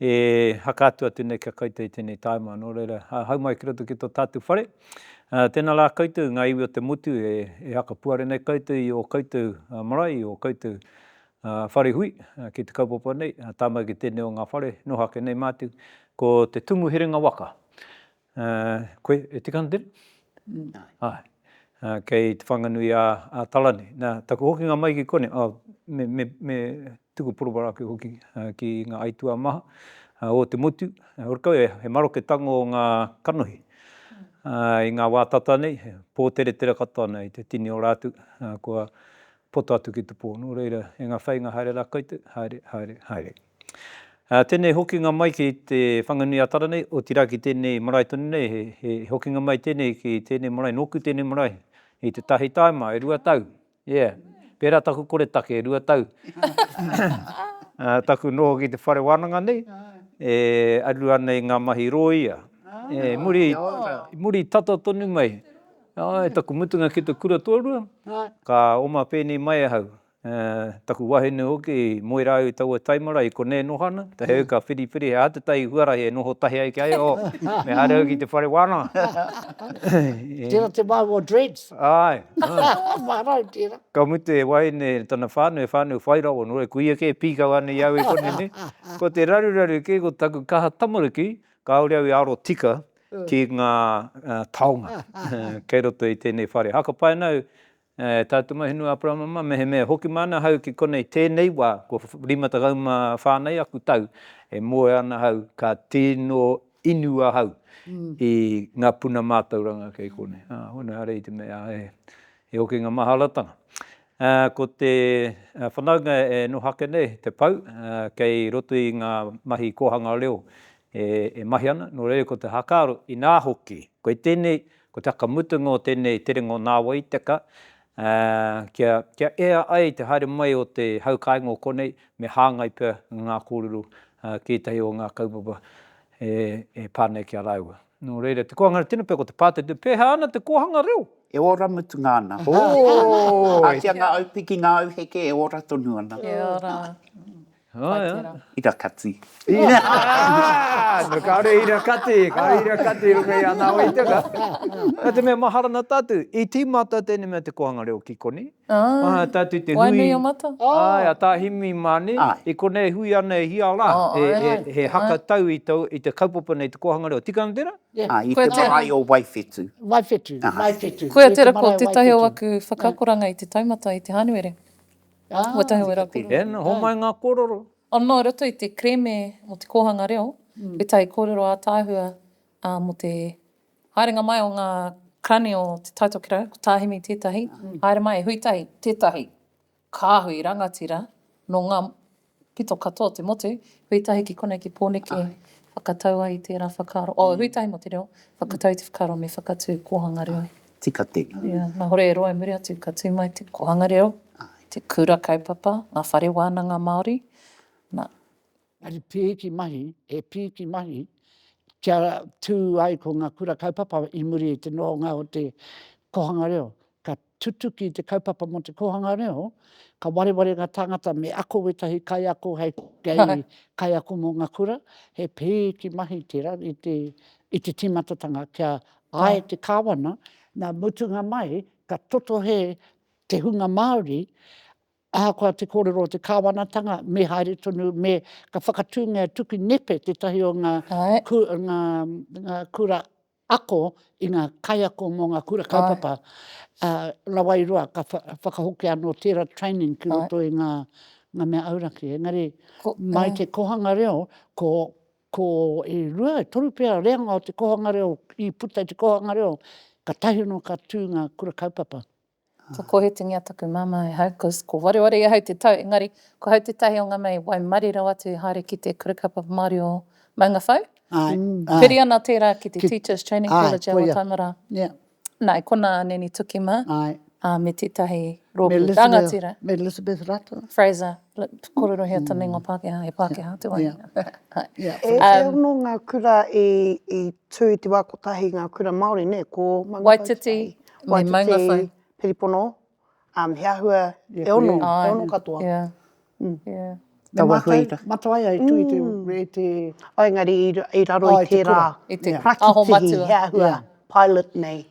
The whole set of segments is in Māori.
E haka atu atu nei kia koutou i tenei taima, no reira, hau mai ki roto ki to tatu whare. Tena la koutou nga iwi o te motu e haka puare nei koutou i o koutou marae, i o koutou whare hui ki te kaupapa nei, taima ki tenei o nga whare, noho ake nei matu, ko te tumu herenga waka. Koe e tika ana tēnā? Āe. Kei Te Whanganui a Talane. Nā, taku hokinga mai ki konei, me tuku poroporo ake hoki ki ngā aituā maha o te motu. Ōkawa, he maroke tango ngā kanohi i ngā wā tata nei, he pōteretera katoa ana i te tini o rātou kua poto atu ki te pō. Nō reira, e ngā whāinga haere rā koutou, haere, haere, haere. Tēnei hokinga mai ki te Whanganui-a-Tara nei, otirā ki tēnei marae tonu nei, he hokinga mai tēnei ki tēnei marae, nōku tēnei marae i te tahi tāima, e rua tau, yeah. Pērā taku koretake, e rua tau. Taku noho ki te whare wānanga nei, e aruru ana i ngā mahi rōia, e muri, muri tata tonu mai, taku mutunga ki te kura tōrua, ka oma pēnei mai ahau. Ā, taku wahine hoki, moe rāua i taua taimara, i konei e noho ana, te heu ka whiriwhiri, he aha te tai i huarahi e noho tahi ai ki a ia, oh, me haere au ki te whare wānanga. Tērā te māu o Dreads. Āe. Ō, maharau tērā. Ka mutu he wahine tana whānau, he whānau whai rawa nō, e kuia kē, pīkau ana i au e koni nei. Ko te raruraru kē, ko taku kaha tamariki, kāore au i aro tika ki ngā taonga kei roto i tēnei whare. Haka pai ana au, E tā te Mahinu Aperama mā, mehemea e hoki mai ana ahau ki konei tēnei wā, kua rima tekau mā whā nei aku tau, e moe ana ahau, ka tino inu ahau i ngā puna mātauranga kei konei. Ā, hoi nō, ērā i te mea he hokinga maharatanga. Ā, ko te whanaunga e noho ake nei, te pou, kei roto i ngā mahi kōhanga reo e mahi ana, nō reira ko te haka aro, inā hoki, kei tēnei Ko te whakamutunga o tēnei tere ngō Nāwai teka, kia, kia ea ai te haere mai o te hau kāinga o konei, me hāngai pea ngā kōrero ki ētahi o ngā kaupapa e, e pā nei ki a rāua. Nō reira, te koanga tino pea ko te pātete, pēhā ana te kōhanga reo? E ora mutunga ana. Ō! Ātia ngā aupiki, ngā auheke e ora tonu ana. Kia ora. Kai tera. Ira kati. Ira! No kaore ira kati, kaore ira kati i runga i ana waitanga. Na te mea mahara na tatu, i timata tene mea te kohanga reo ki koni. Mahara tatu i te hui. Waenui o mata. Ae, a Tahimi mane. I konei e hui ana e hia la, he haka tau i te kaupapa nei te kohanga reo. Tika na tera? I te marae o Waiwhetu. Waiwhetu. Waiwhetu. Koia tera ko tetahi o aku whakakoranga i te taumata i te Hanuere. Ua tae au e rapu. He ana, homai ngā kōrero. Anō i roto i te kereme mō te kōhanga reo, he tai kōrero ātaahua mō te haerenga mai o ngā karani o Te Tai Tokerau, ko Tā Hemi tētahi, haere mai e Hui Tahi tētahi kāhui rangatira nō ngā. Pito katoa te motu, hui tahi ki konei ki Pōneke, whakatau ai i tērā whakaaro, oh, hui tahi mō te reo, whakatau i te whakaaro me whakatū kōhanga reo. Tika tēnā. Ia, nā hore e roa i muri atu ka tū mai te kōhanga reo, te kura kaupapa, ngā whare wānanga Māori, nā. Engari pīki mahi, he pīki mahi kia tū ai ko ngā kura kaupapa i muri i te nohonga o te kōhanga reo, ka Tutuki te kaupapa mō te kōhanga reo, ka wareware ngā tāngata me ako wētahi kaiako hei kaiako mō ngā kura, he pēki mahi tērā i te tīmatatanga kia āe te kāwana, nā mutunga mai ka totohe te hunga Māori ahakoa te kōrero o te kāwanatanga me haere tonu, me ka whakatūngia tuku nepe tētahi o ngā kura ako i ngā kaiako mō ngā kura kaupapa, ā, rawa i roa, ka whakahokia anō tērā training ki roto i ngā mea auraki. Engari, mai te kōhanga reo, ko, ko e rua, e toru pea reanga o te kōhanga reo, i puta i te kōhanga reo, katahi anō ka tū ngā kura kaupapa. Ka kōhitingia taku mama e hau, cos ko wareware e hau te tau, engari ko hau tētahi o ngā mea i waimarie rawa atu i haere ki te Kura Kaupapa Māori o Maungawhau. Ae, ae. Piri ana tērā ki te Ki, Teachers Training ae, College a koia. Waitaimara. Ia. Nā, e konā a Neni Tuki mā, Ae. ā, me tētahi Me rōpū Elizabeth, rangatira, me Elizabeth Rato. Fraser. Let's korero here tane nga Pakeha, he Pakeha te wahine. E ono nga kura i tu i te wa kotahi nga kura Maori ne, ko Mangawhai, Waititi, Piripono, he ahua e ono, e ono katoa. Ne matou, Matawaia i tu i te. Engari i raro i tera parakitihi, he ahua pilot nei.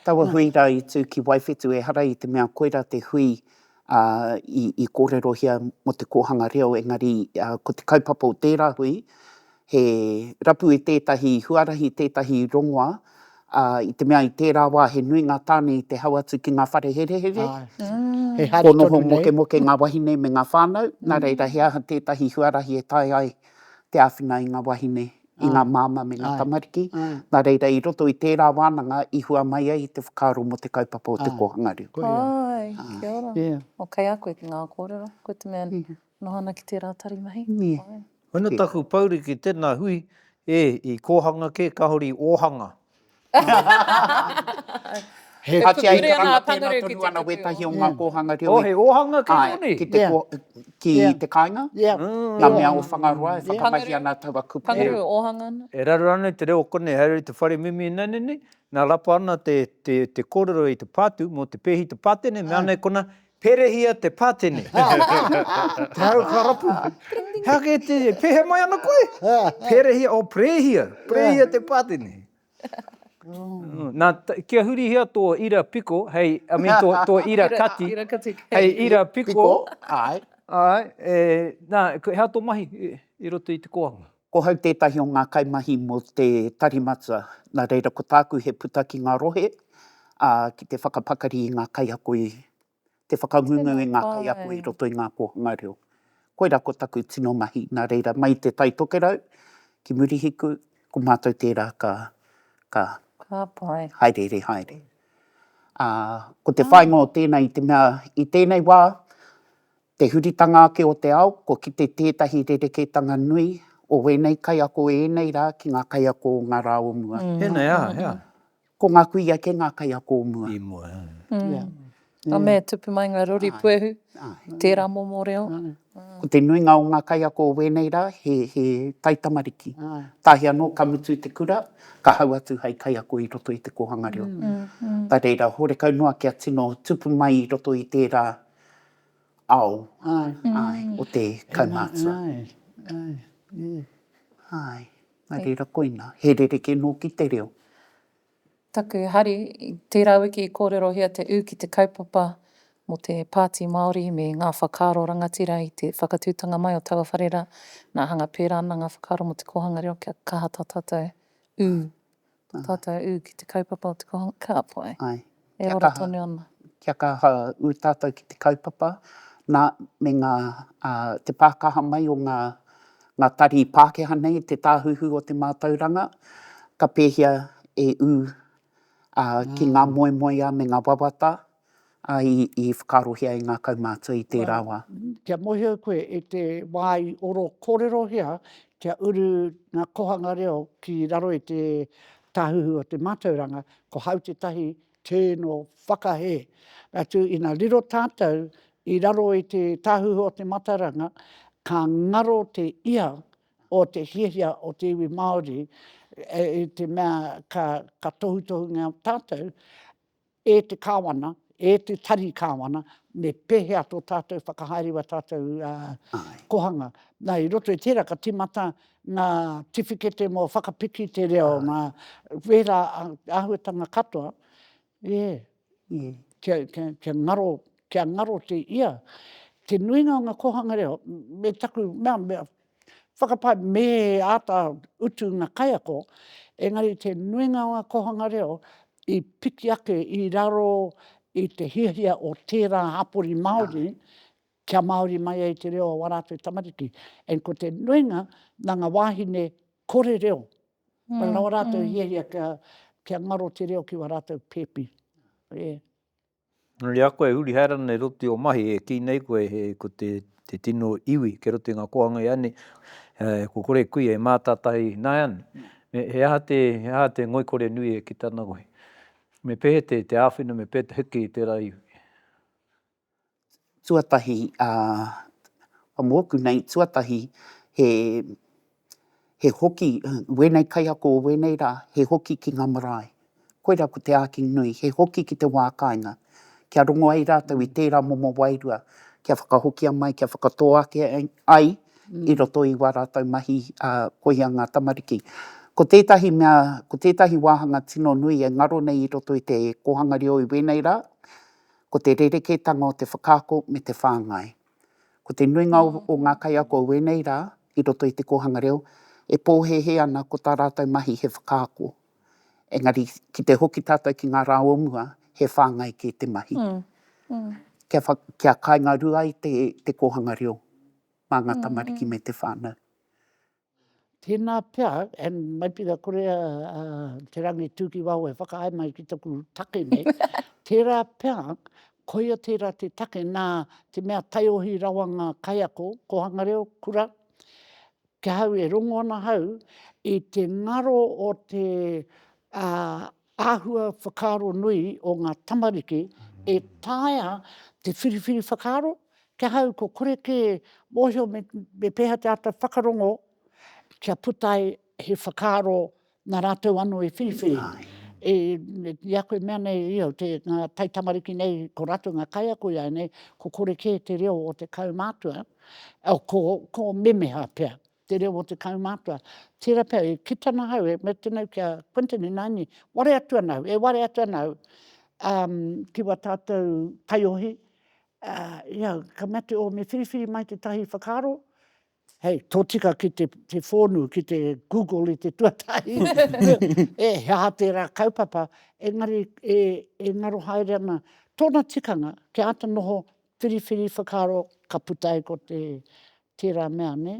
Taua hui ra i tu ki Waiwhetu, ehara i te mea koira te hui ā, i, i kōrerohia mō te kōhanga reo, engari ā, ko te kaupapa o tērā hui, he rapu i tētahi huarahi, tētahi rongoa, ā, i te mea i tērā wā he nui ngā tāne i te hau atu ki ngā whare herehere, Āe. He hari kōnoho tonu nei. mokemoke ngā wahine me ngā whānau, nā reira he aha tētahi huarahi e taea ai te āwhina i ngā wahine i ngā māmā me ngā tamariki, nā reira i roto i tērā wānanga i hua mai ai te whakaaro mō te kaupapa o te kōhanga reo. Āe, kia ora. O kei a koe ki ngā kōrero, koe te mea noho ana ki tērā tari mahi. Āe. Koina taku pouri ki tēnā hui, ē, i kōhanga kē kāore i ōhanga. He tuture ana a Pangaru ki te whakatū. Ātia i karanga tēnā tonu ana wētahi o ngā kōhanga reo i. Oh, he ōhanga kē tonu. Ki te kō, ki te kāinga. Ngā mea o Whangaroa e whakamahi ana taua kupu. Pangaru, ōhanga ana. E raru ana i te reo o konei, haere i te whare mimi i nane nei, nā rapa ana te kōrero i te pātū mō te pēhi, te pātene, mea nei kona, Perehia te patene. Te hau ka rapu. He ake e te, pehea mai ana koe? Perehia, oh, perehia, perehia te patene. Nā, kia hurihia tō ira piko, hei, I mean, tō, tō ira kati. Ira kati. Hei ira piko. Piko, āe. Āe, e, nā, hea tō mahi i roto i te kōhanga? Ko hau tētahi o ngā kaimahi mō te Tari Matua, nā reira ko tāku he puta ki ngā rohe, ā, ki te whakapakari i ngā kaiako i, te whakangungu i ngā kaiako i roto i ngā kōhanga reo. Koirā ko taku tino mahi, nā reira, mai i te Tai Tokerau ki Murihiku, ko mātou tērā ka, ka haereere haere. Ā, ko te whāinga o tēnei i te mea, i tēnei wā, Te huritanga ake o te ao, kua kite tētahi rerekētanga nui o wēnei kaiako ēnei rā ki ngā kaiako o ngā rā o mua. Tēnei ā, hea? Ko ngā kui ake ngā kaiako o mua. I mua, hea? Ka mea e tupu mai ngā rori puehu i tērā momo reo. Ko te nuinga o ngā kaiako o wēnei rā, he taitamariki. Tahi anō, ka mutu te kura, ka hau atu hei kaiako i roto i te kōhanga reo. Nā reira, horekau noa kia tino tupu mai i roto i tērā ao o te kaumātua. Nā reira koina, he rerekē nōki te reo. Taku hari, tērā wiki i kōrerohia te ū ki te kaupapa mō te Pāti Māori me ngā whakaaro rangatira i te whakatūtanga mai o taua whare rā, nā hanga pērā ana ngā whakaaro mō te kōhanga reo kia kaha tā tātou ū. Ko tātou ū ki te kaupapa o te kohanga kāpae, e ora tonu ana. Kia kaha ū tātou ki te kaupapa, nā, me ngā, te pākaha mai o ngā tari Pākehā nei, te tāhuhu o te mātauranga, ka pēhia e ū ki ngā moemoeā me ngā wawata Ā, i, i whakaarohia e ngā kaumātua i tērā wā. Kia mōhio koe i te wā i oro kōrerohia kia uru ngā kohanga reo ki raro i te Tāhuhu o te Mātauranga, ko hau tētahi tēno whakahē. Atu, ina riro tātou i raro i te Tāhuhu o te Mataranga, ka ngaro te ia o te hiahia o te iwi Māori, i te mea ka, ka tohutohungia tātou, E te Kāwana, e te Tari Kāwana, me pēhea tō tātou whakahaere i ā tātou kohanga. Nā, i roto i tērā ka tīmata ngā tiwhikete mō whakapiki te reo, mā wērā āhuatanga katoa, kia ngaro, kia ngaro te ia. Te nuinga o ngā kōhanga reo, me taku mea, Whakapae, Me āta utu ngā kaiako, engari te nuinga o ngā kōhanga reo i piki ake i raro i te hiahia o tērā hapori Māori kia Māori mai ai te reo o ā rātou tamariki. And ko te nuinga nā ngā wāhine kore reo, rawa rātou i hiahia kia ngaro te reo ki wā rātou pēpi. Yeah. Engari a koe e huri haere ana i roto i o mahi e kii nei koe he ko te te tino iwi kei roto i nga kohanga i a nei e ko kore kuia e matatahi naeane me he aha te he aha te ngoikore nui e kita ana koe me pehe te te awhina me pehe te heke i tera iwi. tuatahi a a moku nei tuatahi he he hoki wenei kaiako o wenei ra he hoki ki nga marae koira ko te aki nui he hoki ki te wa kainga kia rongo ai ratou i tera momo wairua kia whakahokia mai kia whakato ake ai i roto i wa ratou mahi a koia nga tamariki ko tetahi mea ko tetahi wahanga tino nui e ngaro nei i roto i te kohanga reo i wenei ra. Ko te rerekētanga o te whakaako me te whāngai. Ko te nuinga o ngā kaiako o wēnei rā, i roto i te kōhanga reo, e pōhēhē ana ko tā rātou mahi he whakaako. Engari, ki te hoki tātou ki ngā rā o mua, he whāngai kē te mahi. Kia wha, kia kāinga rua ai te, te kōhanga reo mā ngā tamariki me te whānau. Tēnā pea, and mai pira kore a, a Te Rangitūkiwaho e whakaae mai ki taku take nei, tērā pea, koia tērā te take nā te mea taiohi rawa ngā kaiako, kōhanga reo, kura, kia hau e rongo ana hau i te ngaro o te, a, Āhua whakaaro nui o ngā tamariki e taea te whiriwhiri whakaaro, ki ahau ko kore kē mōhio me pēhea te āta whakarongo kia puta ai he whakaaro nā rātou anō i whiriwhiri. I a koe mea nei i au, ngā taitamariki nei ko rātou ngā kaiako ināianei ko kore kē te reo o te kaumātua, ko memeha pea, te reo o te kaumātua. Tērā pea, e kite ana ahau, e mea tenau ki a Quinton, ināini, ware atu ana au, e ware atu ana au um, ki wa tātou taiohi, uh, ia, ka mea te, o, me whiriwhiri mai te tahi whakaaro, hei, tōtika ki te, te whōnu, ki te Google i te tuatahi, e, he aha tērā kaupapa, engari e, e ngaro haere ana tōna tikanga, kia āta noho Whiriwhiri whakaaro ka puta ai ko te tērā mea, nē?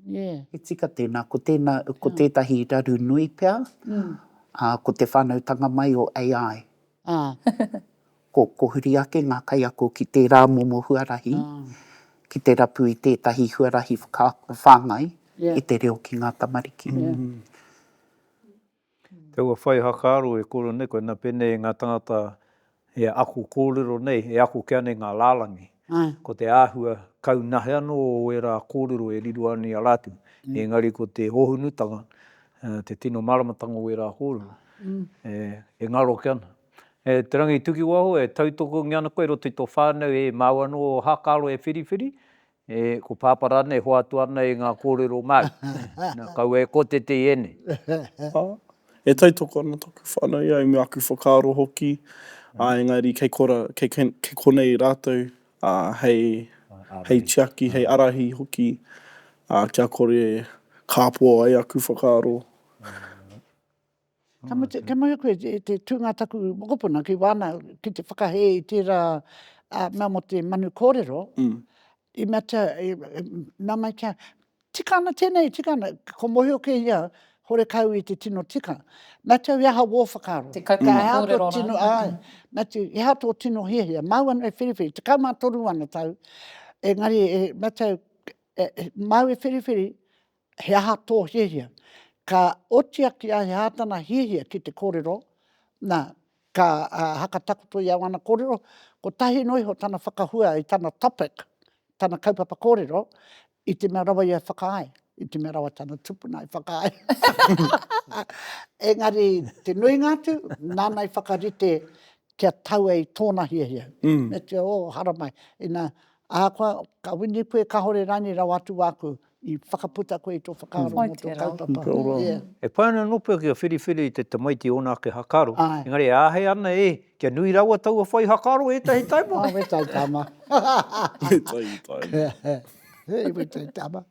Yeah. He tika tēnā, ko tēnā, ko tētahi raru nui pea, ā, ko te whānautanga mai o AI. Ko, ko huri ake ngā kaiako ki tērā momo huarahi, ki te rapu i tētahi huarahi whakaako whāngai i te reo ki ngā tamariki. Taua whai hakaaro e koro nei koina penei nga tangata e ako korero nei, e ako ke ana i nga lalangi, ko te ahua kau nahe ano o era korero e riro ana i a ratu, engari ko te hohonutanga, te tino maramatanga o era korero e ngaro ake ana. Te Rangitukiwaho e tautokongia ana koe i roto i to whanau e mau ano hakaaro e whiriwhiri, E, ko Pāpā rānei e hoatu ana e ngā kōrero Māori? Na, kaua e kotete i ēnei. Ā, e tautoko ana taku whānau i a au me aku whakaaro hoki, ā, engari kei korā, kei, kei konei rātou, ā, hei, hei tiaki, hei ārahi hoki, ā, kia kore kāpō ai aku whakaaro. Ka mutu, ka mutu koe i te tūnga taku mokopuna ki wāna, ki te whakahē i tērā mea mō te manu kōrero, i mea tia, i mea mai kia, tika ana tēnei, tika ana, ko Mōhio kē ia, horekau i te tino tika. Mea tia, i aha wō whakaaro? Te kaupapa kōrero rānei. Āe, mea tia, i aha tō tino hiahia? Māu anō e whiriwhiri, tekau mā toru ana tau, engari, mea tia, māu e whiriwhiri, He aha tō hiahia? Ka oti ake a He aha tana hiahia ki te kōrero? Nā, ka hakatakoto i a wana kōrero, kotahi noa iho tana whakahua i tana topic, tana kaupapa kōrero, i te mea rawa ia e whakaae, i te mea rawa tana tupuna e whakaae. Engari, te nuinga atu, nāna i whakarite kia taua i tōna hiahia. Me te, oh, haramai, inā, ahakoa, ka wini koe, kāore rānei rawa atu wāku I whakaputa koe i tō whakaaro mō tō kaupapa. Kia ora. E pai ana nō pea ki a Whiriwhiri i te tamaiti ōna ake hakaaro, engari e āhei ana e, kia nui rawa taua whai hakaaro ētahi taima. He taitama. He taitama. He taitama.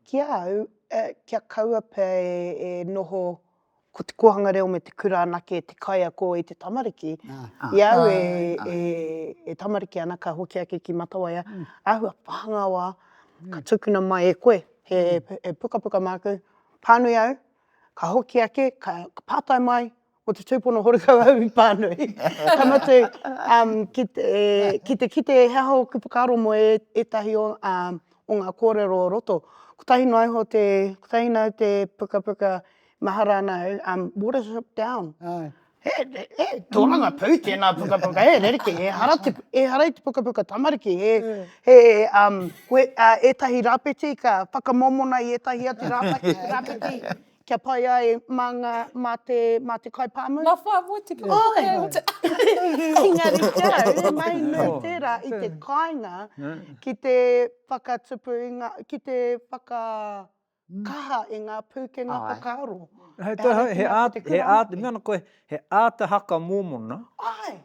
Ki a au, kia kaua pea e noho. Ko te kōhanga reo me te kura anake te kaiako i te tamariki. I a au e tamariki ana ka hoki ake ki Matawaia, āhua pānga wā ka tukuna mai e koe he pukapuka māku, pānui au, ka hoki ake, ka pātai mai, ko te tūpono horikau au i pānui. Ka mutu, ki te kite he aha ōku whakaaro mō ētahi o. o ngā kōrero o roto. Kotahi noa iho te, kotahi noa te pukapuka mahara ana au, um what is it down? Āe. He, he tōrangapū tēnā pukapuka e, rerekē, ehara te, ehara i te pukapuka tamariki, he, he um, koe, ētahi rāpeti ka whakamōmona i ētahi atu rāpeti, rāpeti, Kia pai ai mā ngā, mā te, mā te kai pāmu. Ngā whā motuka. Oi! Engari kia au, he mahi nui tērā i te kāinga ki te whakatupu i ngā, ki te whakakaha i ngā pūkenga whakaaro. He āta, he āta, i mea ana koe, he āta haka mōmona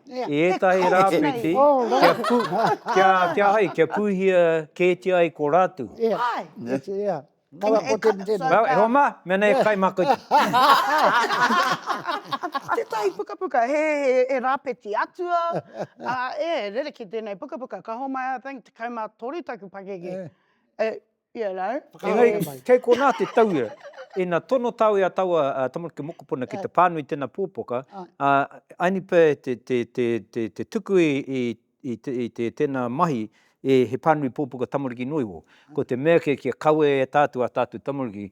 i ētahi rāwhiti kia pū, kia, kia hai, kia pūhia kētia ai ko rātou. Āe. Āe. Kawa ko tēnei, tēnei. Well, e hoa mā, mēnei e kai mā koutou. Tētahi pukapuka, he, he, he rāpeti atua, ā, ē, rerekē tēnei pukapuka, ka homai, I think, tekau mā toru taku pakeke. Eh, you know. Engari, kei konā te tauira, ina tono tāu i a taua tamariki mokopuna ki te pānui tēnā pōpoka, ā, Ainipē te, te, te, te, te tuku i, i i te tena mahi e he panui popoka tamariki noiwo, ko te mea kei kia kawe e tatou a tatou tamariki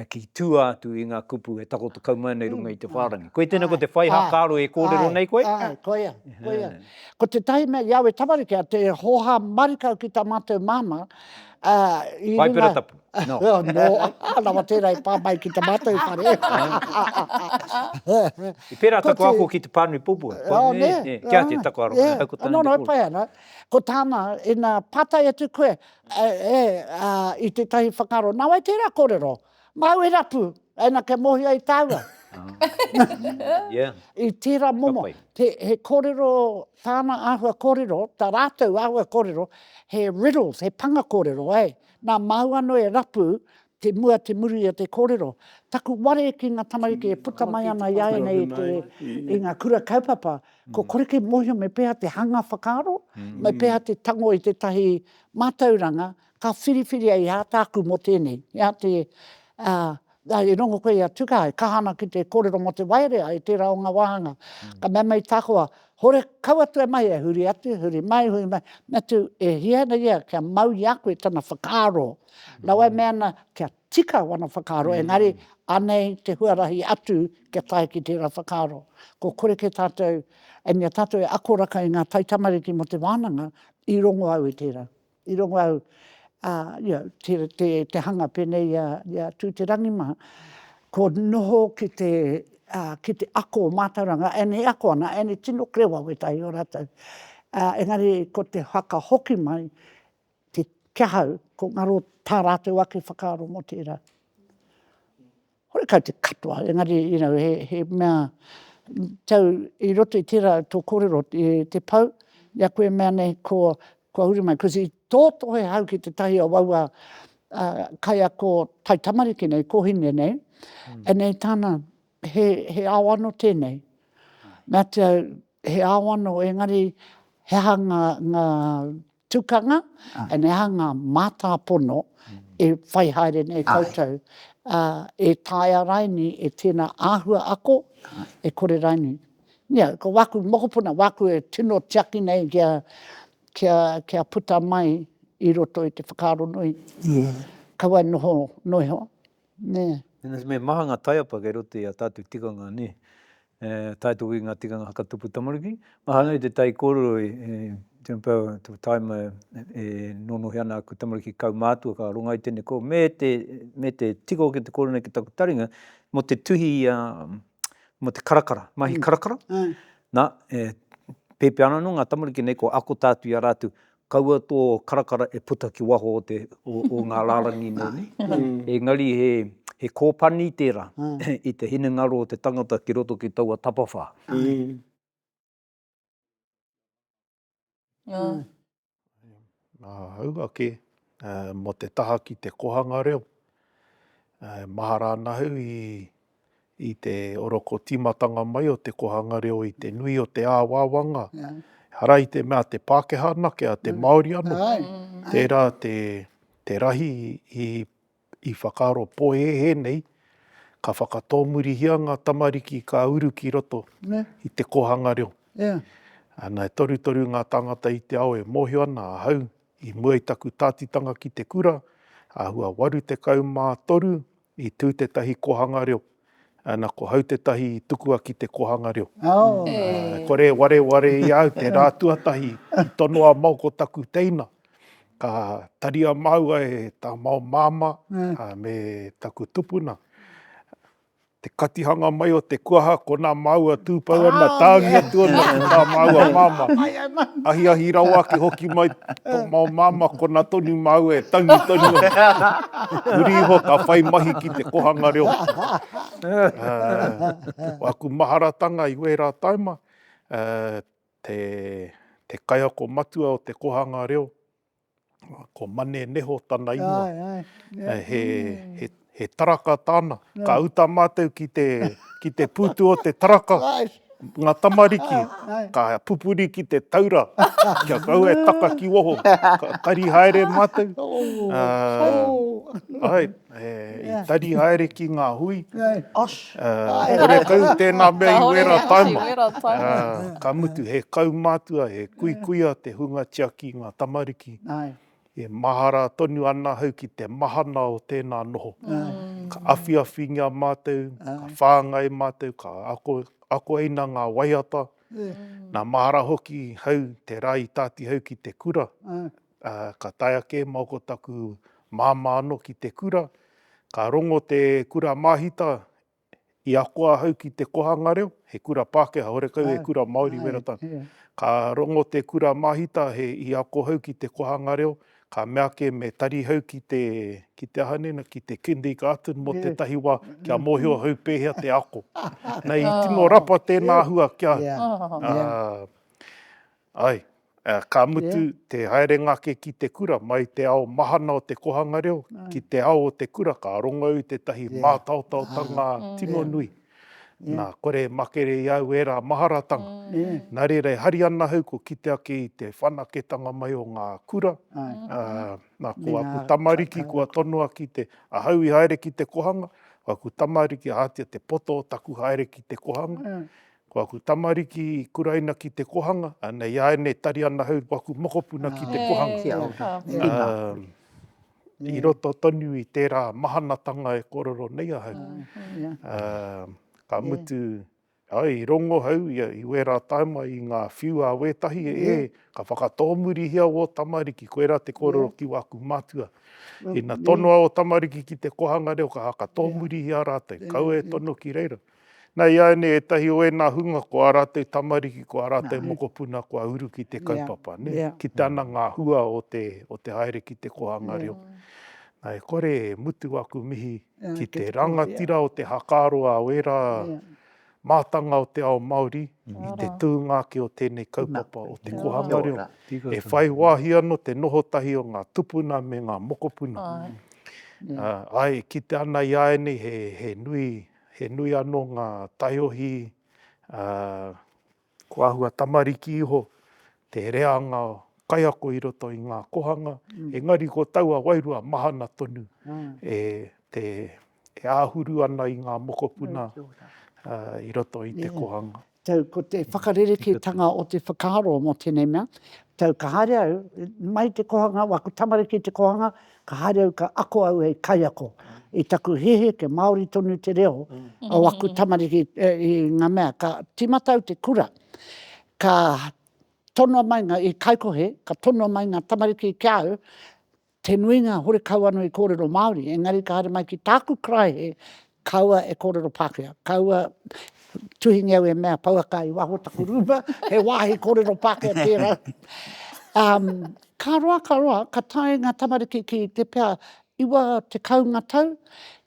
ki tua atu i nga kupu e takoto kau mai ana i runga i te wharangi. Koe tena ko te whai hakaaro e korero nei koe? Ae, koia, koia. Ko tetahi mea i awe tamariki a te hoha marikau ki ta matou mama, a i runga. Paipera tapu. No. no. Rawa tērā e pā mai ki te mātou whare. I pērā taku ako ki te pānui pupua. Oh, ne. Yeah. Kia te taku aronga. Yeah. Ko no, no, pai ana. Ko tāna, ina pātai atu koe, e, e, a, i tētahi whakaro, nā wai tērā kōrero? Māu e rapu, ina kia mōhio ai tāua. yeah. I tērā momo, te, he kōrero, tāna āhua kōrero, tā rātou āhua kōrero, he riddles, he panga kōrero, eh? Nā māu anō e rapu te mua te muru i a te kōrero. Taku ware ki ngā tamariki e puta mai ana i āianei i te, i ngā kura kaupapa, kua kore kei mōhio me pēhā te hanga whakaaro, me pēhā te tango i tētahi mātauranga ka whiriwhiria i āta aku mō tēnei, i āta, ā, Ā, i rongo koe i a Tukaha, e kaha ana ki te kōrero mō te waerea i tērā o ngā wāhanga. Ka mea mai Takoa, Hore, kau atu e Maia! Huri atu, huri mai, huri mai, me tū, e hia ana ia kia mau i a koe tana whakaaro. Rawa e mea ana kia tika wana whakaaro, engari anei te huarahi atu kia tae ki tērā whakaaro. Kua kore kē tātou, e mea tātou e akoraka i ngā taitamariki mō te wānanga, i rongo au i tērā. i rongo au te hanga penei i a Tu Te Rangimaha, ko noho ki te ako o mātauranga, and e ako ana, and e tino krewa wētahi o rātou, engari ko te whakahoki mai ki ahau, ko ngaro tā rātou ake whakaaro mō tērā. Horekau te katoa, engari you know, he, he mea tau i roto i tērā tō kōrero i te pau, i a koe mea nei ko, kua huri mai, kosi i tōtohe hau ki te tahi o aua uh, kaiako taitamariki nei, kōhine nei, mm. e nei tāna, he, he ao ano tēnei. Mea te au, he ao ano, engari he aha ngā, ngā Tukanga, and e aha ngā mātāpono e whai haere nei koutou, e taea raini e tēnā āhua ako, e kore raini. Ia, ko wāku mokopuna, wāku e tino tiaki nei kia, kia, kia puta mai i roto i te whakaaro nui. Kaua e noho noiho. nē. Me maha ngā taiapa kei roto i ā tātou tikanga, nē. E tae atu ki ngā tikanga hakatupu tamariki. Mahana i te tai kōrero i John Power i te taima e nōnohia ana aku tamariki kaumātua ka ronga i tēnei kōrero, me te, me te tika hoki te kōrero nei ki taku taringa, mō te tuhi, mō te karakara, mahi karakara. Nā, e pēpē ana anō ngā tamariki nei kua ako tā atu i a rātou, Kaua tō karakara e puta ki waho o te, o ngā rārangi nōni. Engari he, he kōpani tērā i te hinengaro o te tangata ki roto ki taua tapawhā. Nā hau ake, mō te taha ki te kohanga reo, mahara ana au i. i te oroko tīmatanga mai o te kohanga reo i te nui o te āwāwanga, ehara i te mea te Pākehā anake, a te Māori anō, tērā te rahi i whakaaro pōhēhē nei, ka whakatōmurihia ngā tamariki ka uru ki roto i te kōhanga reo. Ana, e torutoru ngā tāngata i te ao e mōhio ana ahau, I mua i taku tātitanga ki te kura, āhua 83, i tū tētahi kōhanga reo. Ana, ko Hau tētahi i tukua ki te kōhanga reo. E kore e wareware i a au te rā tuatahi i tono a Mao ko taku teina, ka taria māua e tā Mao māmā me taku tupuna. te katihanga mai o te kuaha ko nā māua tūpau ana, tāngi atu ana ki tā māua māmā. Ahiahi rawa ake hoki mai tō māu māmā konā tonu māua e tangi tonu ana. Muri iho ka whai mahi ki te kohanga reo. Ko aku maharatanga i wērā taima, te kaiako matua o te kohanga reo, Ko Mane Neho tana ingoa. Ai, ai. He, he, he, he taraka tāna. Ka uta mātou ki te, ki te pūtu o te taraka, ngā tamariki, ka pupuri ki te taura, kia kaua e taka ki waho. Ka kari haere mātou. Ā, āe. I tari haere ki ngā hui. Horekau tēnā mea i wera taima. Ka mutu he kaumātua, he kuikuia te hunga tiaki i ngā tamariki. E mahara tonu ana ahau ki te mahana o tēnā noho. Ka awhiawhingia mātou, ka whāngai mātou, ka akoina ngā waiata. Nā mahara hoki hau te rā i tātihau ki te kura, Ā, ka taea kē mau ko taku māmā anō ki te kura. Ka rongo te kura māhita i ako ahau ki te kohanga reo, he kura Pākehā, horekau he kura Māori wera tana. Ka rongo te kura māhita i ako hau ki te kohanga reo, ka mea ake me tari hau ki te, ki te aha nei na, ki te Kindergarten mō tētahi wā, kia mōhio hau pēhea te ako. Nei, i tino rapa tēnā hua kia, ā, Ae, ka mutu te haerenga ake ki te kura, mai te ao mahana o te kohanga reo ki te ao o te kura, ka rongo i tētahi mātaotaotanga tino nui. Nā, kore e makere i au ērā maharatanga. Nā reira, e hari ana ahau kua kite ake i te whanaketanga mai o ngā kura, nā, ko aku tamariki kua tonoa ki te, ahau i haere ki te kohanga, ko aku tamariki, ahatia te poto o taku haere ki te kohanga, Ko aku tamariki i kuraina ki te kohanga, anei aenei tari ana hau ko aku mokopuna ki te kohanga. Kia ora. Tēnā. I roto tonu i tērā mahanatanga e kōrero nei ahau. Ka mutu, ae, i rongo hau i wērā taima i ngā whiu a wētahi, ē, ka whakatōmurihia ō tamariki, koirā te kōrero ki wāku mātua. Ina tonoa ō tamariki ki te kohanga reo, ka whakatōmurihia rātou, kaua e tono ki reira. Nā, iāianei ētahi o ēnā hunga ko ā rātou tamariki, ko ā rātou mokopuna kua uru ki te kaupapa, nē? Kite ana ngā hua o te, o te haere ki te kōhanga reo. Nā, e kore e mutu aku mihi ki te rangatira o te hakaroa o ērā mātanga o te ao Māori i te tūnga ake o tēnei kaupapa o te kōhanga reo. E whai wāhi anō te noho tahi o ngā tupuna me ngā mokopuna. Āe, e kite ana iāianei he, he nui, He nui anō ngā taiohi, ā, kua āhua tamariki iho te reanga kaiako i roto i ngā kohanga, engari ko taua wairua mahana tonu e te, e āhuru ana i ngā mokopuna i roto i te kohanga. Tau, ko te whakarerekētanga o te whakaaro mō tēnei mea, tau ka haere au, mai te kohanga, waku tamariki te kohanga, ka haere au ka ako au hei kaiako. I taku heheke Māori tonu te reo o aku tamariki i ngā mea, ka tīmata au te kura, ka tonoa mai ngā, i Kaikohe, ka tonoa mai ngā tamariki ki a au, Te nuinga hore kau ano i korero Maori, engari ka haere mai ki taku karaehe, kaua e korero Pakea. Kaua tuhingia au e mea pouaka i waho o taku ruma, he wahi korero Pakea tera. Um, ka roa, ka roa, ka tae nga tamariki ki te pea, iwa tekau nga tau,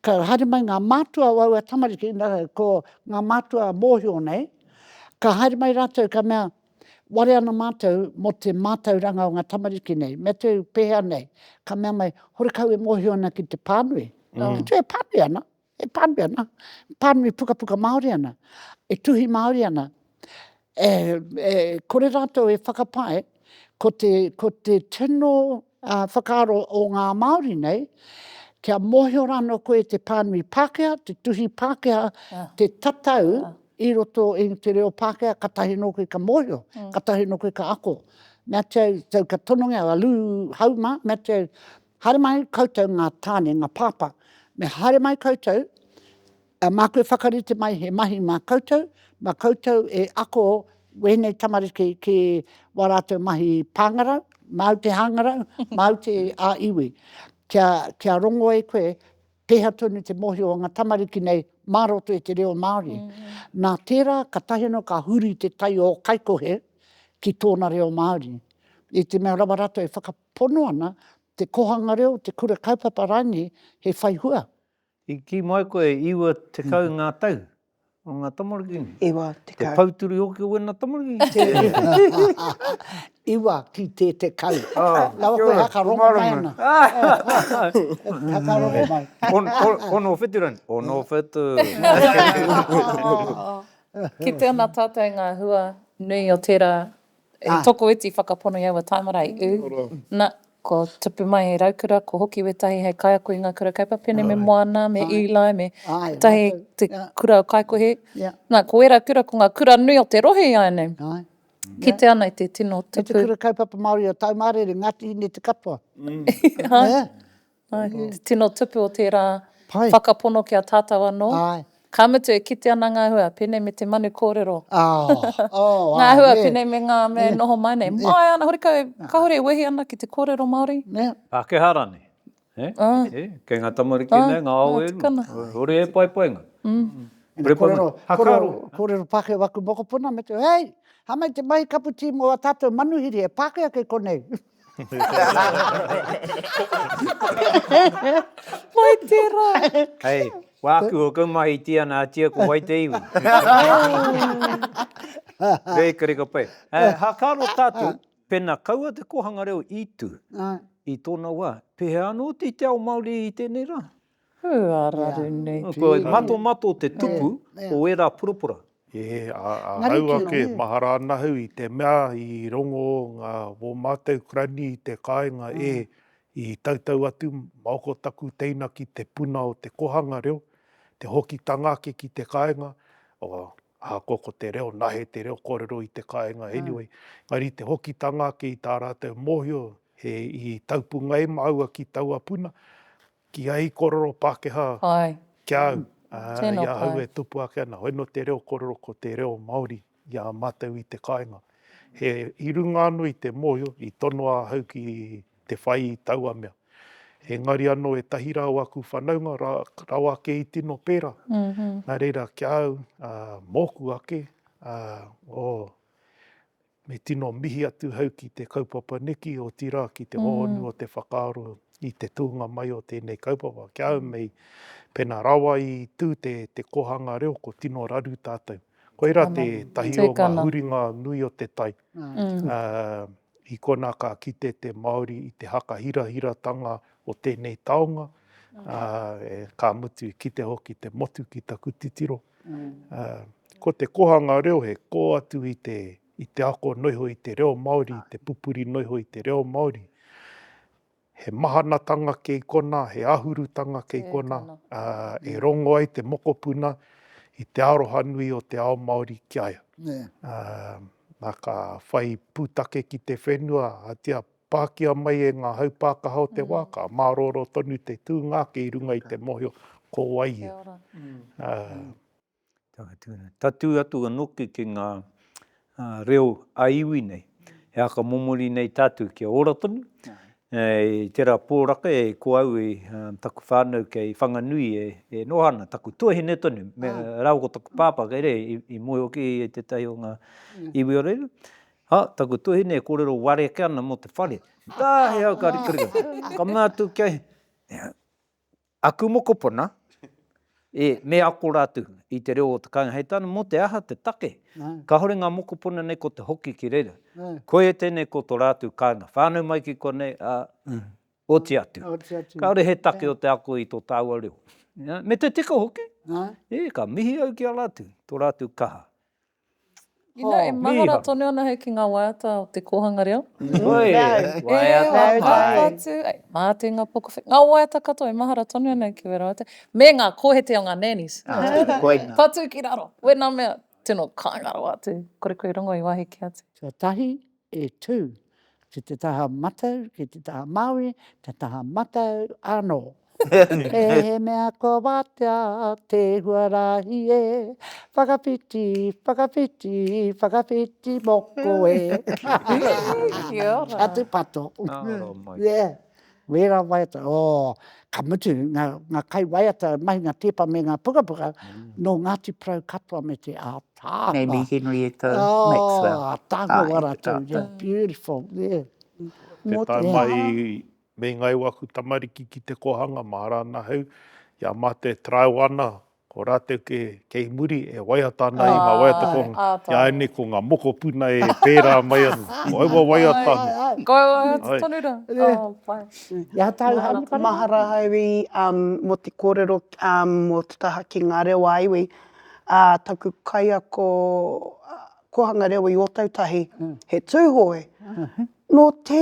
ka haere mai nga matua o aua tamariki, ko nga matua mohio nei, ka haere mai ratou ka mea, ware ana mātou mō te mātauranga o ngā tamariki nei, me tū pēhea nei, ka mea mai, horekau e mōhio ana ki te pānui, me tū e pānui ana, e pānui ana, pānui pukapuka Māori ana, e tuhi Māori ana, e, e, kore rātou e whakapae, ko te, ko te tino Ā, whakaaro o ngā Māori nei, kia mōhio rānō koe te pānui Pākehā, te tuhi Pākehā, te tatau i roto i te reo Pākehā, katahi anō koe ka mōhio, katahi anō koe ka ako. Mea te au, tau ka tonongia a Lū Hauma, mea te au, haere mai koutou ngā tāne, ngā pāpā, me haere mai koutou, A māku e whakarite mai he mahi mā koutou, mā koutou e ako wēnei tamariki ki wā rātou mahi pāngarau, māu te hāngarau, māu te ā iwi. Kia, kia rongo e koe pēhea tonu te mōhio o ngā tamariki nei mā roto i te reo Māori. Nā tērā ka tahi anō ka huri te tai o Kaikohe ki tōna reo Māori. I te mea rawa rātou e whakapono ana te kohanga reo, te kura kaupapa rānei he whai hua. I kī mai koe e iwa tekau ngā tau o ngā tamariki? Iwa tekau. He pouturi hoki o wena tamariki? Iwa ki te tekau. Nawa koe haka rongo mai ana. Haka rongo mai. Ono whitu rani? Ono whitu. Ki te ona tātou ngā hua nui o tērā E toko iti whakapono i aua taimarai, ū. Na, ko Tupu mai hei raukura, ko Hoki wētahi hei kaiako i ngā kura kaupapene me Moana, me Eli, me wētahi te kura o Kaikohe. Na, ko ērā kura ko ngā kura nui o te rohe i āianei. Kite ana i te tino tupu. Me te kura kaupapa Māori o Taumārere, Ngāti Hine te katoa. Āe. Te tino tupu o tērā whakapono ki a tātou anō, ka mutu e kite ana ngā hua, pēnei me te manu kōrero, ngā hua pēnei me ngā mea e noho mai nei, māia ana horekau e, kāore e wehi ana ki te kōrero Māori. Pākehā rānei, he? He, kei ngā tamariki nei, ngā ao e rua, hore e paepaenga. Hore kōrero, kōrero, kōrero Pākehā waku mokopuna me te, hei, hāmai te mahi kaputī mō ā tātou manuhiri, he Pākehā kei konei. Mai tera! Hei, wāku o Kaumahi Tiana Atia ko wai te iwi? Bakery ka pai. Hakaaro tātou, pēnā kaua te kōhanga reo i tū i tōna wā, pēhea anō hoki te ao Māori i tēnei rā? Hū, ā raru nei tū. Kua matomato te tupu o ērā purapura. E, ā, ahau ake, mahara ana ahau i te mea i rongo ngā wō mātou Kurani i te kāinga e, i tautau atu, maoko taku teina ki te puna o te kohanga reo, te hokitanga ake ki te kāinga, oh, ahakoa ko te reo, nahe te reo kōrero i te kāinga anyway, engari te hokitanga ake i tā rātou mōhio he i taupungae māua ki taua puna, Ki a i kororo Pakeha ki a au, i a au e tupu ake ana, hoi no te reo kororo ko te reo Maori i a matou i te kainga. He i runga ano i te mohio, i tono a hau ki te whai i taua mea. Engari ano etahi ra o aku whanaunga rawa ake i tino pera, na reira ki a au, moku ake, o. Me tino mihi atu hau ki te kaupapa neki, otirā ki te hōhonu o te whakaaro i te tūnga mai o tēnei kaupapa. Kia haumei, pēnā rawa i tū te kōhanga reo, ko tino raru tātou. Koirā tētahi o ngā huringa nui o te tai. I konā ka kite te Māori i te whakahirahiratanga o tēnei taonga, ka mutu i kite hoki te motu ki taku titiro. Ko te kohanga reo he kō atu i te i te ako noho iho i te reo Māori, i te pupuri noho iho i te reo Māori. He mahanatanga kei kona, he ahurutanga kei kona, e rongo ai te mokopuna i te aroha nui o te ao Māori ki a ia. Nā, ka whai pūtake ki te whenua, ahatia Pākia mai e ngā haupākaha o te wā, ka mārōrō tonu te tūnga ake i runga i te mōhio, ko wai ia. Tatū atu anō ki ki ngā reo a iwi nei, he aka momori nei tātou kia ora tonu, i tērā pōraka e ko au i taku whānau kei Whanganui e noha ana, taku tuahine tonu, rāua ko taku pāpā kei reira, i moe hoki i tētahi o ngā iwi o reira, Ha, taku tuhine e korero ware ake ana mo te whare. Ka he au ka rikarika. Ka mea atu kia he, aku mokopuna, e, me ako ratu i te reo o te kainga. Hei tana, mo te aha te take? Kahore nga mokopuna nei ko te hoki ki reira. Koia tenei ko to ratu kainga. Whanau mai ki konei, a, oti atu. Kaore he take o te ako i to taua reo. Me te tika hoki. E, ka mihi au ki a ratu, to ratu kaha. Inā e mahara tonu ana hei ki ngā waiata o te kōhanga reo. Mā te ngā poka, ngā waiata katoa e mahara tonu ana ki wera waiata, me ngā kōhete o ngā nannies. Patu ki raro, wena mea, tino kāinga rawa atu, kore koe i rongo i wāhiki atu. Tuatahi, E tū, ki te taha matau, ki te taha Māori, te taha matau anō. He mea kua wātea te huarahi e, whakawhiti, whakawhiti, whakawhiti moko e. Kia ora. Atu pato. Nā ora mai. Yeah. Wērā waiata, oh, ka mutu, ngā, ngā kaiwaiata e mahi ngā tēpa me ngā pukapuka, nō Ngāti Porou katoa me te ātaahua. Nei mihi nui e tō oh, Maxwell. Oh, ātaahua rātou, yeah, beautiful, yeah. Te tae mai me ngāi waku tamariki ki te kōhanga mā Rānahau, i a Mate Traoana, Ko rātou kē, kei muri e waiata ana i ngā waiata ko āianei ko ngā mokopuna e pērā mai ana. Ko aua waiata anō. Ko aua waiata tonu rā. Mahara, mahara haere mō te kōrero mō te taha ki ngā reo a iwi. Taku kaiako kōhanga reo i Ōtautahi, he Tūhoe. Nō te,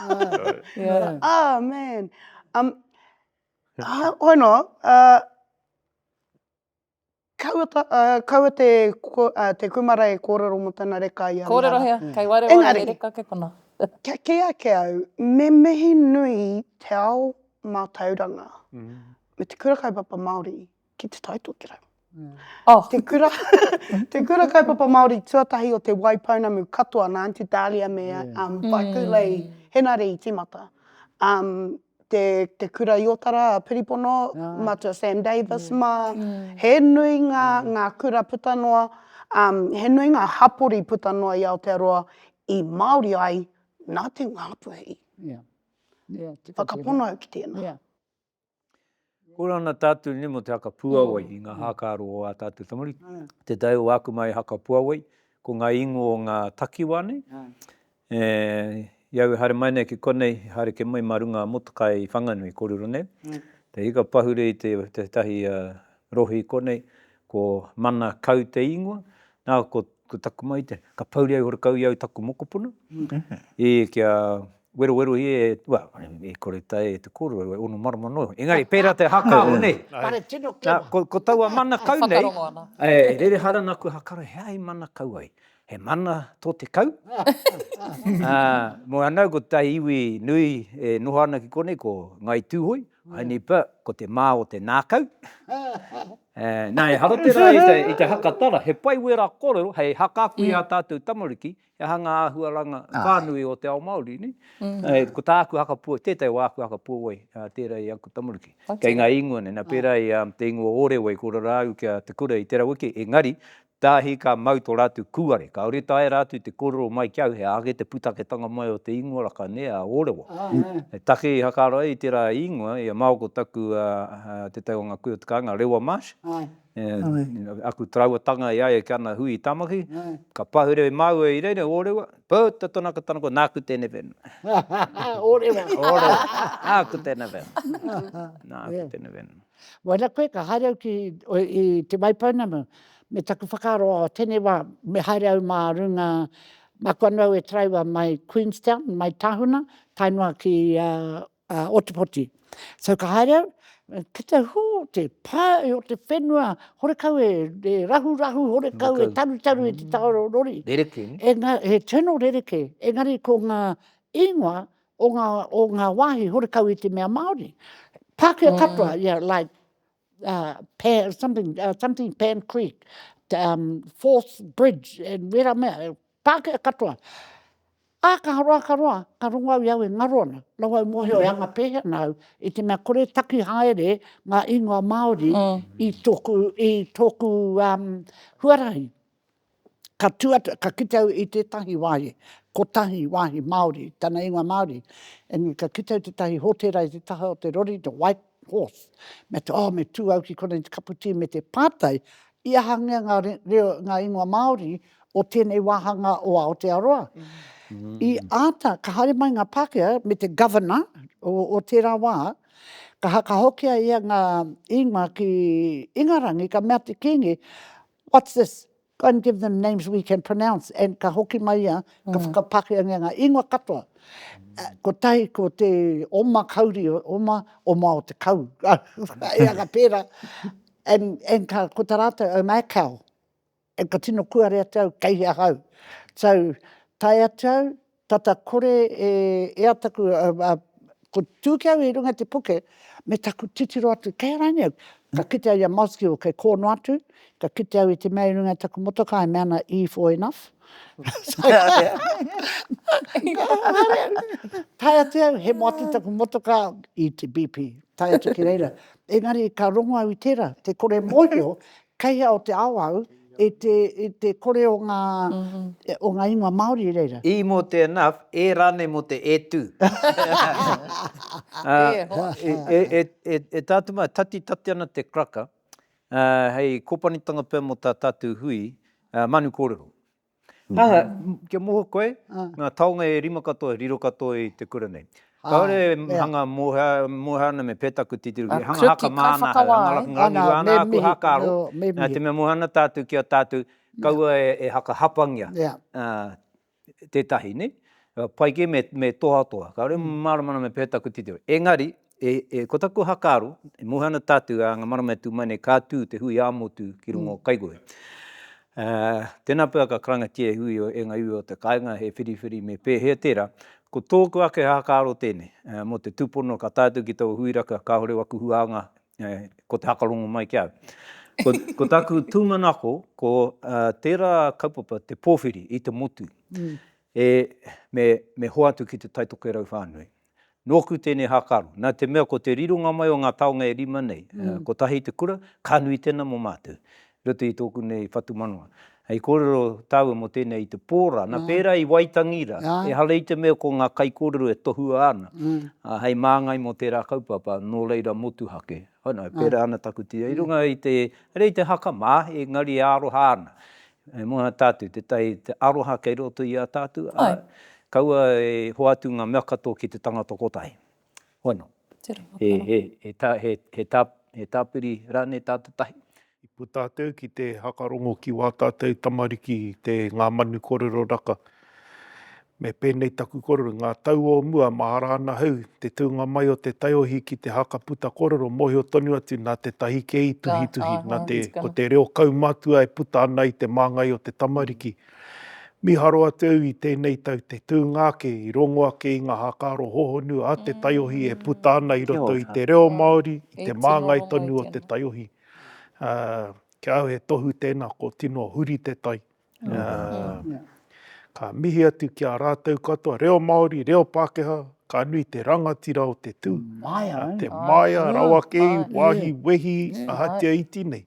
yeah. oh man. Um, uh, hoi noa, uh, kaua, ta, uh, kaua te, ko, uh, te kumara e kōrero mo tana reka i a Kōrero hea, kei waere waere te reka ke kona. kia kei ake au, me mihi nui te ao mātauranga, mm. me te kura kaupapa Māori, ki Te Tai Tokerau. Oh. Te kura, te kura kaupapa Māori tuatahi o te wai pounamu katoa nā Anti Dahlia me yeah. um, Whaikulei mm. Henare i timata. Um, te, te kura i Otara, Piripono, yeah. Matua Sam Davis, yeah. mā, mm. he nui ngā, yeah. ngā kura puta noa, um, he nui ngā hapori puta noa i Aotearoa i Māori ai nā te ngāpuhi. Yeah. Yeah, Whakapono au ki tēnā. Yeah. Kura ana tātou nei mō te haka puawai i ngā hākaro o ā tātou tamariki. Te tae o aku mai haka puawai, ko ngā ingoa o ngā takiwā nei. I au e haere mai nei ki konei, i haere ke mai mā runga a Motokai i Whanganui i korero nei. Te hika pahure i tētahi rohe i konei, ko Mana Kau te ingoa. Nā, ko taku mahi tēnei, ka pouri ai horekau i au taku mokopuna, i kia Werowero ia e, well, i kore tae e te korua, e ono marama noa iho. Engari, pera te hakao nei. Kare tino kino. Na, ko taua mana kau nei. Whakarongo ana. E rere hara na kua hakaro he aha i mana kau ai. He mana to te kau. Moe ana ko tai iwi nui e noho ana ki konei ko Ngai Tuhoi, only but ko te ma o te nakau. Na, ehara tera i te haka tara, he pai wera korero hei haka aku i a tatou tamariki He aha ngā āhuaranga whānui o te ao Māori? Ko tāku hakapuawai, tētahi o āku hakapuawai, tērā i aku tamariki. Kei ngā īngoa nei, nā pērā i te īngoa o Ōrewei, ko Rarāu ki a Te Kura i te raweke, engari, tāhi ka mau tō rātou kūare. Kāore i taea rātou te kōrero mai ki au, he aha kē te pūtaketanga mai o te īngoa raka nei, a Ōrewa. He take i hakaaro ai i tērā īngoa, i a Maoko taku, tētahi o ngā kui o Te Kāinga, Rewa Marsh, Aku tarauatanga e ai ki ana hui i Tamaki, ka pahure māua i reira, ōrewa, puta tonu aku tanakoa, nāku tēnei whenua. Ōrewa. Ōrewa, nāku tēnei whenua. Nāku tēnei whenua. Wāna koe ka haere au ki Te Waipounamu, me taku whakaaro, oh, tēnei wā, me haere au mā runga, māku anō au e taraiwa mai Queenstown, mai Tahuna, tae noa ki a Otepoti. So ka haere au, ki te hū te pae o te whenua, horekau e, e rahurahu, horekau e tarutaru i te mm. taoro rori. Rereke. E nga, he tino rereke. Engari ko ngā ingoa o ngā, o ngā wāhi horekau i te mea Māori. Pākehā mm. katoa, yeah, like, uh, Pan, something, uh, something Pan Creek, um, Fourth Bridge, and wera mea, e Pākehā katoa. Ā, ka roa, ka roa, ka rongo au i au e ngaro ana. Nau au mōhio e anga pēhea ana au, i te mea kore taki haere ngā ingoa Māori mm. i tōku, i tōku um, huarahi. Ka tū atu, ka kite au i tētahi wāhi, kotahi wāhi Māori, tana ingoa Māori, engari ka kite au tētahi hōtēra i te taha o te rori, The White Horse, me te, oh, me tū au ki konei te kapu tī me te pātai, i ahangia ngā reo, ngā ingoa Māori o tēnei wāhanga o Aotearoa? I āta, ka haere mai ngā Pākehā me te Governor o, o tērā wā, ka hakahokia ia ngā ingoa ki Ingarangi, ka mea te Kīngi, What's this? Go and give them names we can pronounce. And ka hoki mai ia, ka whakapakeangia ngā ingoa katoa. Uh, ko tahi ko te oma kauri, oma, oma o te kau. e anga pērā. And, and ka, ko tā rātou, oh my cow. And ka tino kuare atu au, kei hea hau. So, tae atu au, Tata kore e ea taku, a, ko Tūkeau i runga i te puke, me taku titiro atu, kei a rānei au? Ka kite au i a Mothgill kei kō noa atu, ka kite au i te mea i runga i taku motoka, e mea ana E for enough. Tae atu au, hemo atu taku motoka i te BP, tae atu ki reira. Engari ka rongo au i tērā, te kore mōhio Kei hea o te ao au, i te, i te kore o nga, o nga ingoa Maori i reira? E mo te enough, e ranei mo te e tu. E hoa. E, e, e, e tatu mai, tati, tati ana te kraka, hei kopanitanga pea mo ta tatu hui, manu korero. Anga, kia moho koe, nga taonga e rima katoa riro katoa i te kura nei. Kaore e hanga moha ana me petaku titiro ki hanga haka maana hau, hanga rangirangi rua ana aku haka aro, na te mea moha ana tatou ki a tatou, kaua e haka hapangia tetahi nei, pai ke me tohatoha, kaore e marama ana me petaku titiro. Engari, E, e, ko taku hakaaro, e mohe ana tātou ā ngā marama e tū mai nei, ka tū te hui ā-motu ki runga o Kaikohe. Ā, tēnā pea ka karangatia e Hui o, e ngā iwi o te kāinga, he whiriwhiri me pēhea tērā. Ko tōku ake hakaaro tēnei, ā, mō te tūpono ka tae atu ki taua hui raka, kāore waku huānga, ē, ko te hakarongo mai ki a au. Ko, ko taku tūmanako, ko, ā, tērā kaupapa te pōwhiri i te motu, e, me, me hoatu ki te taitokerau whānui. Nōku tēnei hākaro, nā te mea ko te rironga mai o ngā taonga e rima nei, kotahi te kura, ka nui tēnā mō mātou, i roto i tōku nei whatumanawa. Hei kōrero tāua mō tēnei i te pō rā, nā pērā i Waitangi rā, ehara i te mea ko ngā kaikōrero e tohua ana, ā, hei māngai mō tērā kaupapa, nō reira motuhake. Anō, e pērā ana taku tira, i runga i te, arei te haka mā, engari e aroha ana, E mōhio tātou tētahi te aroha kei roto i a tātou, ā, kaua e hoatu ngā mea katoa ki te tangata kotahi. Hono. He tāpiri rānei tātou tahi? I puta atu au ki te hakarongo ki wā tātou tamariki, te Ngā Manu Korero Raka. Me pēnei taku korero, ngā tau o mua, mahara ana hau, te tūnga mai o te taiohi ki te haka puta korero, mōhio tonu atu nā te tahi kē i tuhituhi, nā te, ko te reo kaumatua e puta ana i te māngai o te tamariki. Mīharo atu au i tēnei tau, te tūnga ake, i rongo ake i ngā hākaro hohonu a te taiohi e puta ana i roto i te reo Māori, i te māngai tonu o te taiohi. Ā, ki a au he tohu tēnā, kua tino huri te tai. Ka mihi atu ki a rātou katoa, reo Māori, reo Pākehā, ka nui te rangatira o te tū. Te māia rawa kē i wāhi wehi ahatia iti nei.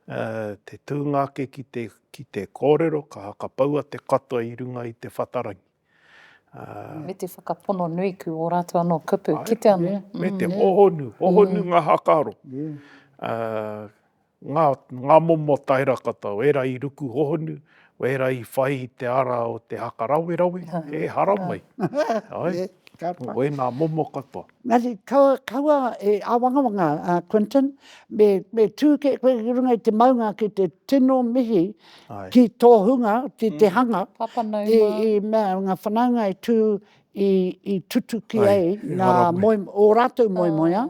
Te tūnga ake ki te kōrero, ka hakapaua te katoa i runga i te whatarangi. Me te whakapono nui ku o ratou ano kupu kite ano. Me te hohonu, hohonu nga hakaro. Nga momo taera katoa, era i ruku hohonu, era i whai i te ara o te haka rawerawe, e haramai. Koe nga momo katoa. Engari kaua, kaua e āwangawanga a Quinton, me, me tū ke koe ki runga i te maunga ki te tino mihi Ai. ki tō hunga, ki mm. te hanga. Papa nau i, i mea, ngā whanaunga e tū i, i tutuki ai, ai ngā moi, o rātou moimoia,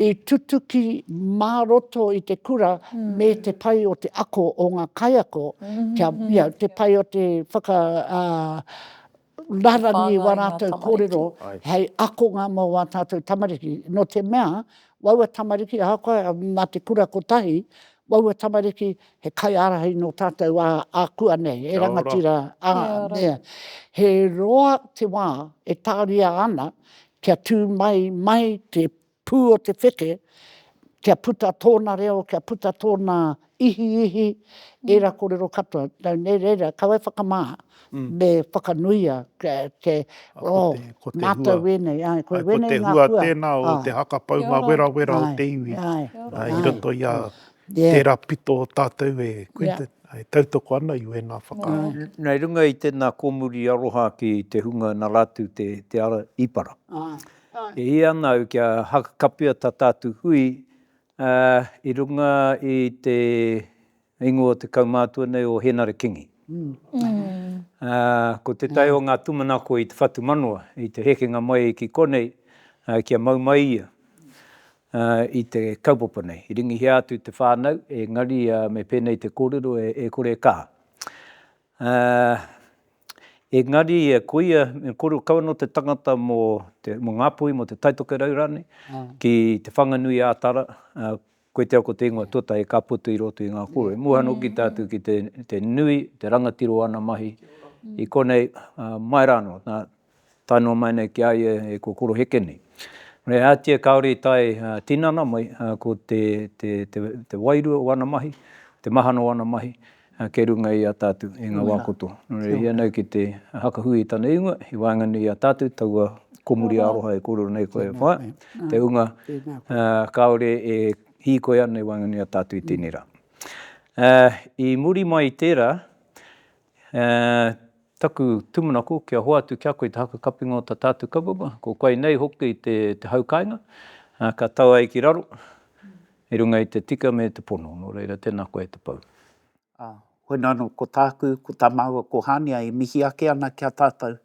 i tutuki mā roto i te kura mm. me te pai o te ako o ngā kaiako, mm -hmm. kia, ia, te pai o te whaka, uh, rarani wā rātou kōrero hei akonga mō wā tātou tamariki. Nō te mea, waua tamariki, ahakoa nā te kura kotahi, waua tamariki he kaiārahi nō tātou ākuanei, he rangatira, he roa te wā e tāria ana kia tū mai mai te Pū o te wheke, kia puta tōna reo, kia puta tōna ihiihi, ērā kōrero katoa. Nau nei reira, ka wai whakamā, me whakanuia te, oh, mātou wēnei, āe, koe wēnei ngā hua. Ko te hua tēnā o te haka paunga werawera o te iwi, i roto i a tērā pito o tātou e Quinton, e tautoko ana i wēnā whakaaro. Nei runga i tēnā kōmuri aroha ki te hunga nā rātou te ara īpara. E hia ana au kia hakakapia ta tatu hui i runga i te ingoa o te kaumātua nei o Henare Kingi. Ko tetahi o nga tumanako i te whatumanawa i te hekenga mai ki konei kia mau mai ia i te kaupapa nei. I ringihia atu te whanau engari me penei te korero e kore e kaha. Engari koia, me koro kau anō te tangata mō Ngāpuhi, mō Te Taitokerau rānei, ki Te Whanganui ā Tara, koe te ako te ingoa tuatahi ka puta i roto i ngā kōrero. Mua noki tātou ki te nui, te rangatiro o ana mahi i konei, mai rānō, nā, Tae noa mai nei ki a ia e kokoroheke nei. Me ātia kāore i tae tinana mai ko te, te, te, te wairua o ana mahi, te mahana o ana mahi kei runga i a tātou i ngā wā kotoa. Nō reira, ia nei ki te hakahui i tana ingoa, i waenganui i a tātou, taua komuri aroha e kōrero nei koe e whā, te hunga kāore e hīkoi ana i waenganui i a tātou i tēnei rā. I muri mai i tērā, E taku tūmanako kia hoatu kia koe te haka kapinga o ta tātu kaupapa, ko koe nei hoki te hau kainga, ka tau ai ki raro i runga i te tika me te pono, no reira tena koe te pou. A, hoi nano ko tāku, ko ta māua ko Hānia e mihi ake ana ki a tātou,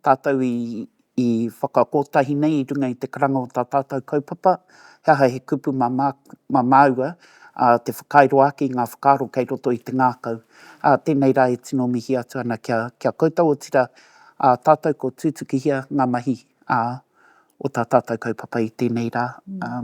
tātou i i whakakotahi nei i runga i te karanga o tā tātou kaupapa, he aha he kupu mā mā māua, ā, te whakairo ake i ngā whakaaro kei roto i te ngākau. Ā, tēnei rā e tino mihi atu ana kia, kia koutou, otirā, ā tātou ko tūtukihia ngā mahi, ā, o tā tātou kaupapa i tēnei rā. Ā.